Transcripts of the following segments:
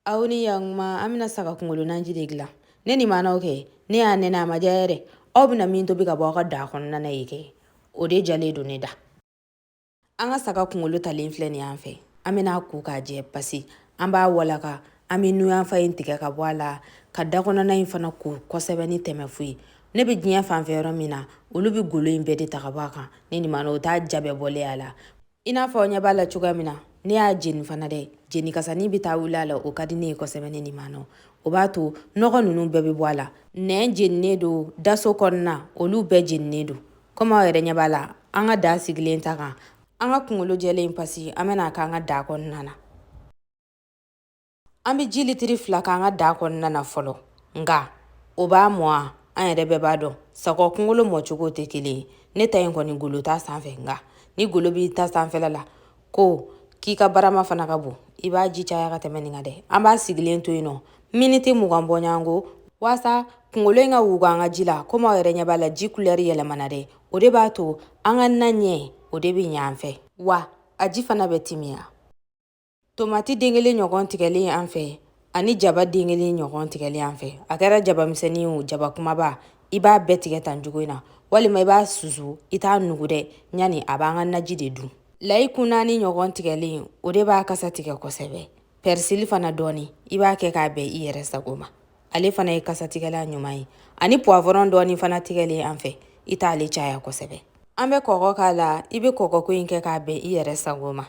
aw ni yakuma an bɛna saga kunkolo nanji de dilan ne ni maanaw kɛ ne y'a nɛnɛ a ma diya yɛrɛ aw bɛna min tobi ka bɔ aw ka daa kɔnɔna na ye kɛ o de diyalen don ne da an ka saga kunkolo talen filɛ nin an fɛ an bɛna a ko k'a jɛ pasi an b'a walaka an bɛ nun yanfan in tigɛ ka bɔ a la k'a da kɔnɔna in fana ko kosɛbɛ ni tɛmɛfu ye ne bɛ diɲɛ fanfɛ yɔrɔ min na olu bɛ golo in bɛɛ de ta ka bɔ a kan ne ni maana o t'a diya bɛɛ bɔlen a la i n'a fɔ aw ɲɛ b'a la cogoya min na ne y'a jeni fana dɛ jeni kasa nin bɛ taa wuli a la o ka di ne ye kosɛbɛ ne ni maana o b'a to nɔgɔ ninnu bɛɛ bɛ bɔ a la nɛn jeninen don daso kɔnɔna olu bɛɛ jeninen don komi aw yɛrɛ ɲɛ b'a la an ka daa sigilen ta kan an ka kungolo jɛlen pasi an bɛna a k'an ka daa kɔnɔna na an bɛ ji litiri fila k'an ka daa kɔnɔna na fɔlɔ nka o b'a mɔ wa an yɛrɛ bɛɛ b'a dɔn saga kunkolo mɔcogo tɛ kelen ye ne ta in kɔni golo t'a sanfɛ nka ni golo b'i ta sanfɛla la ko k'i ka barama fana ka bon i b'a ji caya ka tɛmɛ nin kan dɛ an b'a sigilen to yen nɔ miniti mugan bɔɲɔgɔnko waasa kunkolo in ka wuga an ka ji la komi aw yɛrɛ ɲɛ b'a la ji kulɛri yɛlɛmana dɛ o de b'a to an ka na ɲɛ o de bɛ ɲɛ an fɛ wa a ji fana bɛ timiya Tomati den kelen ɲɔgɔn tigɛlen an fɛ ani jaba den kelen ɲɔgɔn tigɛlen an fɛ a kɛra jaba misɛnnin wo jaba kumaba i b'a bɛɛ tigɛ tan cogo in na walima i b'a susu i t'a nugu dɛ yanni a b'an ka naji de du layi kun naani ɲɔgɔn tigɛlen o de b'a kasa tigɛ kosɛbɛ pɛrisili fana dɔɔni i b'a kɛ k'a bɛn i yɛrɛ sago ma ale fana ye kasatigɛlan ɲuman ye ani puwavɔrɔn dɔɔni fana tigɛlen an fɛ i t'ale caya kosɛbɛ an bɛ kɔgɔ k'a la i bɛ kɔgɔko in kɛ k'a bɛn i yɛrɛ sago ma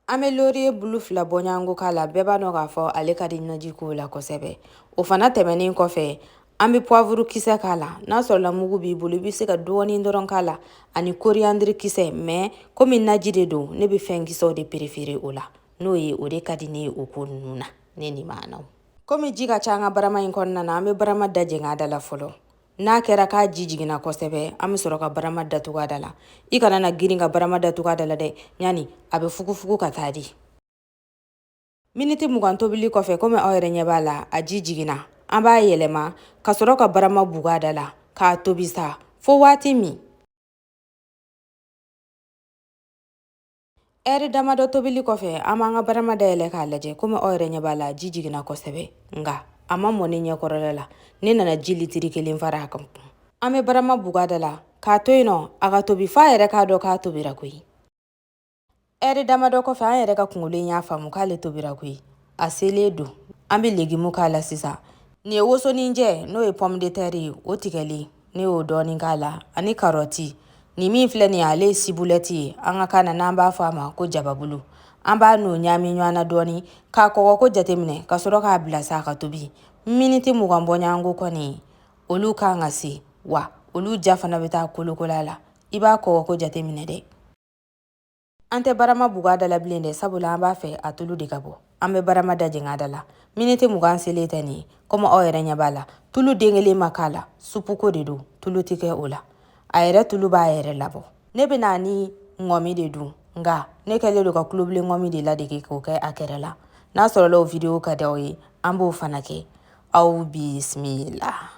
An bɛ loriye bulu fila bɔɲɔgɔnko k'a la bɛɛ b'a dɔn k'a fɔ ale ka di naji ko la kosɛbɛ o fana tɛmɛnen kɔfɛ an bɛ pwaburu kisɛ k'a la n'a sɔrɔla mugu b'i bolo i bɛ se ka dɔɔnin dɔrɔn k'a la ani koriyandiri kisɛ mɛ komi naji de don ne bɛ fɛn kisɛw de perefeere o la n'o ye o de ka di ne ye o ko ninnu na ne ni maanaw komi ji ka ca an ka barama in kɔnɔna na an bɛ barama da jɛngɛ a da la fɔlɔ n'a kɛra k'a ji jiginna kosɛbɛ an bɛ sɔrɔ ka barama datugu a da la i kana na girin ka barama datugu a da la dɛ yanni a bɛ fugufugu ka taa di miniti mugan tobili kɔfɛ komi aw yɛrɛ ɲɛ b'a la a ji jiginna an b'a yɛlɛma ka sɔrɔ ka barama bugu a da la k'a tobi sa fo waati min ɛri damadɔ tobili kɔfɛ an b'an ka barama dayɛlɛ k'a lajɛ komi aw yɛrɛ ɲɛ b'a la ji jiginna kosɛbɛ nka a ma mɔ ne ɲɛkɔrɔla la ne nana ji litiri kelen fara a kankun an bɛ barama bugu a da la k'a to yen nɔ a ka tobi f'a yɛrɛ k'a dɔn k'a tobira koyi ɛri damadɔ kɔfɛ an yɛrɛ ka kungolo in y'a faamu k'ale tobira koyi a selen don an bɛ legimu k'a la sisan nin ye wosoninjɛ n'o ye pomme de terre ye o tigɛlen ne y'o dɔɔnin k'a la ani karɔti nin min filɛ nin ye ale ye sibulɛti ye an ka kan na n'an b'a fɔ a ma ko jababulu an b'a n'o ɲaami ɲɔgɔn na dɔɔnin k'a kɔgɔko jateminɛ ka sɔrɔ k'a bila sa ka tobi miniti mugan bɔɲɔgɔnko kɔni olu kan ka se wa olu ja fana bɛ taa kolokola la i b'a kɔgɔko jateminɛ dɛ An tɛ barama bug'a da la bilen dɛ sabula an b'a fɛ a tulu de ka bɔ an bɛ barama da jɛng'a da la miniti mugan selen tɛ nin ye komi aw yɛrɛ ɲɛ b'a la tulu den kelen ma k'a la supuko de don tulu tɛ kɛ o la a yɛrɛ tulu b'a yɛrɛ labɔ ne bɛn'a ni ŋɔmi de dun nka ne kɛlen don ka tulubilen ŋɔmi de ladege k'o kɛ a kɛrɛ la n'a sɔrɔla o video ka di aw ye an b'o fana kɛ aw bisimila